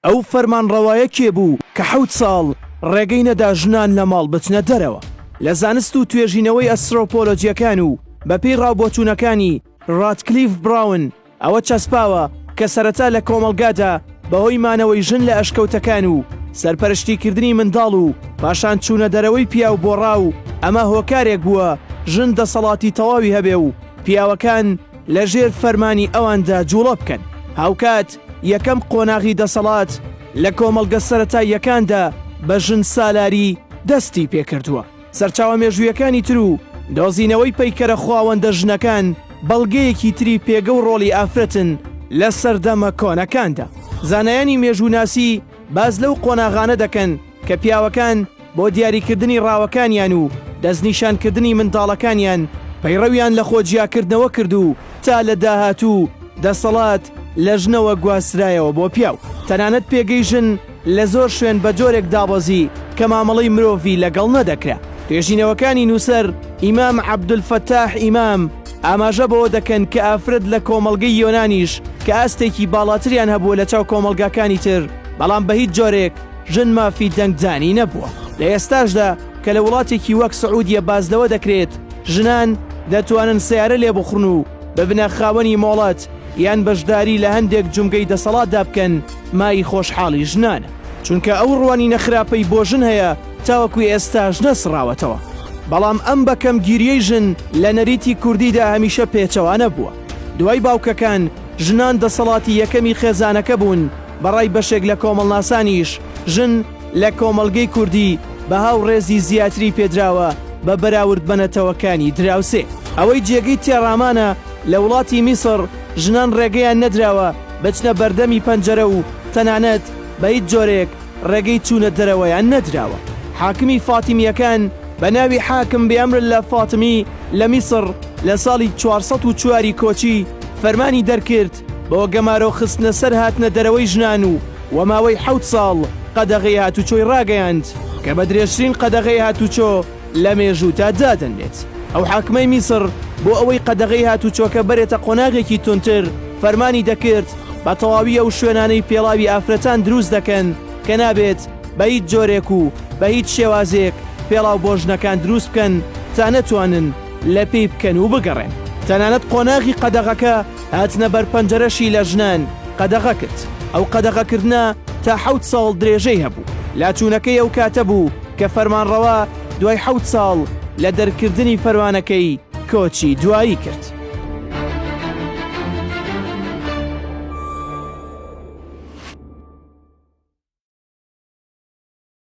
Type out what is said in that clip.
ئەو فەرمانڕەوایە کێ بوو کە حەوت ساڵ ڕێگەی نەدا ژنان لە ماڵ بچنە دەرەوە؟ لە زانست و توێژینەوەی ئەسترۆپۆلۆجیەکان و بە پێی ڕاوبۆچوونەکانی ڕاتکلیف براون ئەوە چەسپاوە کە سەرەتا لە کۆمەڵگادا بە هۆی مانەوەی ژن لە ئەشکەوتەکان و سەرپەرشتی کردنی منداڵ و پاشان چوونە دەرەوەی پیاو بۆ ڕاو ئەمە هۆکارێک بووە ژن دەسەڵاتی تەواوی هەبێ و پیاوەکان لە ژێر فەرمانی ئەواندا جوڵە بکەن، هاوکات یەکەم قۆناغی دەسەڵات لە کۆمەڵگە سەرەتاییەکاندا بە ژنسالاری دەستی پێکردووە. سەرچاوە مێژوویەکانی تر و دۆزینەوەی پەیکەرە خواوەندە ژنەکان بەڵگەیەکی تری پێگە و ڕۆڵی ئافرەتن لە سەردەمە کۆنەکاندا. زانایانی مێژووناسی باس لەو قۆناغانە دەکەن، کە پیاوەکان بۆ دیاریکردنی ڕاوەکانیان و دەستنیشانکردنی منداڵەکانیان پەیڕەویان لە خۆجیاکردنەوە کرد و تا لە داهاتوو دەسەڵات لە ژنەوە گواسترایەوە بۆ پیاو. تەنانەت پێگەی ژن لە زۆر شوێن بە جۆرێک دابەزی کە مامەڵەی مرۆڤی لەگەڵ نەدەکرا. توێژینەوەکانی نووسەر ئیمام عەبدولفەتاح ئیمام ئاماژە بەوە دەکەن کە ئافرەت لە کۆمەڵگەی یۆنانیش کە ئاستێکی باڵاتریان هەبووە لەچاو کۆمەڵگاکانی تر بەڵام بە هیچ جۆرێک ژن مافی دەنگدانی نەبووە. لە ئێستاشدا کە لە وڵاتێکی وەک سعودیە باس لەوە دەکرێت ژنان دەتوانن سەیارە لێبخڕن و ببنە خاوەنی مۆڵەت یان بەشداری لە هەندێک جومگەی دەسەڵاتدا بکەن مای خۆشحاڵی ژنانە، چونکە ئەو ڕوانینە خراپەی بۆ ژن هەیە تاوەکو ئێستاش نەسڕاوەتەوە، بەڵام ئەم بەکەمگیریەی ژن لە نەریتی کوردیدا هەمیشە پێچەوانە بووە، دوای باوکەکان ژنان دەسەڵاتی یەکەمی خێزانەکە بوون، بە ڕای بەشێک لە کۆمەڵناسانیش ژن لە کۆمەڵگەی کوردی بەها و ڕێزی زیاتری پێدراوە بە بەراورد بە نەتەوەکانی دراوسێ. ئەوەی جێگەی تێڕامانە لە وڵاتی میسڕ ژنان ڕێگەیان نەدراوە بچنە بەردەمی پەنجەرە و تەنانەت بە هیچ جۆرێک ڕێگەی چوونە دەرەوەیان نەدراوە. حاکمی فاتیمییەکان بە ناوی حاکم بئەمر اللە فاطمی لە میسڕ لە ساڵی چوار سەد و چوار ی کۆچی فەرمانی دەرکرد، بۆ گەمارۆ خستنە سەر هاتنە دەرەوەی ژنان و وە ماوەی حەوت ساڵ قەدەغەی هاتووچۆی ڕاگەیاند کە بە درێژترین قەدەغەی هاتووچۆ لە مێژووتا دادەنرێت ئەو حاکمەی میسڕ بۆ ئەوەی قەدەغەی هاتووچۆکە بەرێتە قۆناغێکی توندتر فەرمانی دەکرد بە تەواوی ئەو شوێنانەی پێڵاوی ئافرەتان دروست دەکەن کە نابێت بە هیچ جۆرێک و بە هیچ شێوازێک پێڵاو بۆ ژنەکان دروست بکەن تا نەتوانن لە پێی بکەن و بگەڕێن تەنانەت قۆناغی قەدەغەکە هاتنە بەر پەنجەرەشی لە ژنان قەدەغە کرد، ئەو قەدەغەکردنە تا حەوت ساڵ درێژەی هەبوو، لاچوونەکەی ئەو کاتە بوو کە فەرمانڕەوا دوای حەوت ساڵ لە دەرکردنی فەرمانەکەی کۆچی دوایی کرد.